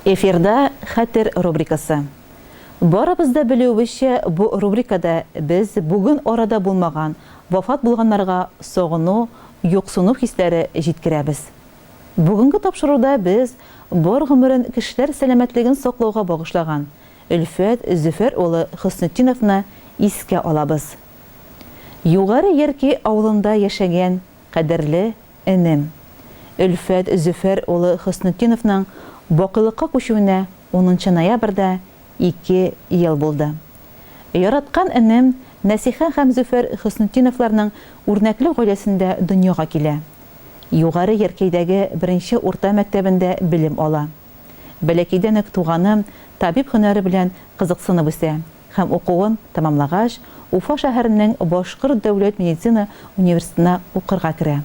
Эфирда Хәтер рубрикасы. Барыбыз да белүебезчә, бу рубрикада без бүген арада булмаган, вафат булганнарга сагыну, юксыну хисләре җиткерәбез. Бүгенге тапшыруда без бар гомерен кешеләр сәламәтлеген саклауга багышлаган, Өлфәт Зөфәр улы Хөснетдиновны искә алабыз. Югары Ярки авылында яшәгән кадерле энем Өлфәт Зөфәр улы Хөснетдиновның бакыйлыкка күчүенә унынчы ноябрьдә ике ел булды. Яраткан энем Нәсиха һәм Зөфәр Хөснетдиновларның үрнәкле гаиләсендә дөньяга килә. Югары Яркәйдәге беренче урта мәктәбендә белем ала. Бәләкәйдән үк туганы табиб һөнәре белән кызыксынып үсә һәм укуын тәмамлагач, Уфа шәһәренең Башкорт дәүләт медицина университетына укырга керә.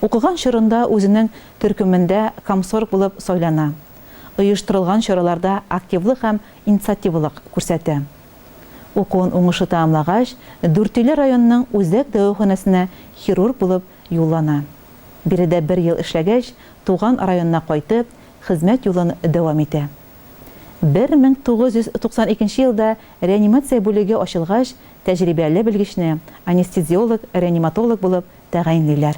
Укыган чорында үзенең төркемендә комсорг булып сайлана, оештырылган чараларда активлык һәм инициативалык күрсәтә. Укуын уңышлы тәмамлагач, Дүртөйле районының үзәк дәваханәсенә хирург булып Юллана. Биредә бер ел эшләгәч, туган районына кайтып, хезмәт юлын дәвам итә. 1992 елда реанимация бүлеге ачылгач, тәҗрибәле белгечне анестезиолог-реаниматолог булып тәгаенлиләр.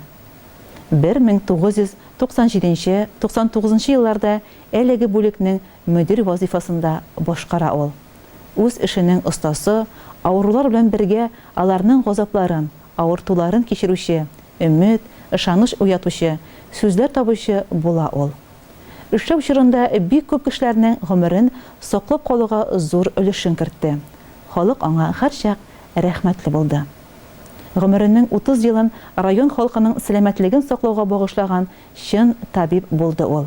1997-99 елларда әлеге бүлекнең мөдир вазыйфасын да башкара ул. Үз эшенең остасы, авырулар белән бергә аларның газапларын, Авыртуларын кичерүче, өмет, ышаныч уятучы, сүзләр табучы була ул. Эшләү чорында бик күп кешеләрнең гомерен саклап калуга зур өлешен кертте, халык аңа һәрчак рәхмәтле булды. Гомеренең 30 елын район халкының сәламәтлеген саклауга багышлаган чын табиб булды ул.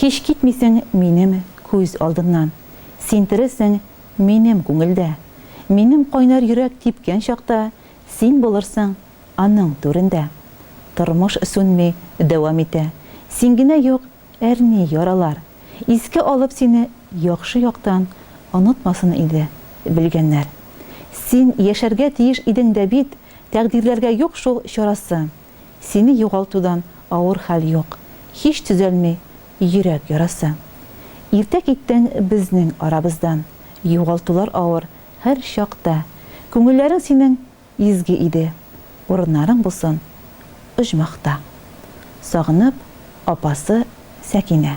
Һич китмисең минем күз алдымнан. Син тересең минем күңелдә. Минем кайнар йөрәк типкән чакта, Син булырсың аның түрендә. Тормыш сүнми, дәвам итә. Син генә юк, әрни яралар. Искә алып сине яхшы яктан, Онытмасын иде белгәннәр. Син яшәргә тиеш идең дә бит, Тәкъдирләргә юк шул чарасы. Сине югалтудан авыр хәл юк, Һич төзәлми йөрәк ярасы. Иртә киттең безнең арабыздан, Югалтулар авыр һәр чакта. Күңелләрең синең изге иде, Урыннарың булсын оҗмахта. Сагынып, апасы Сәкинә.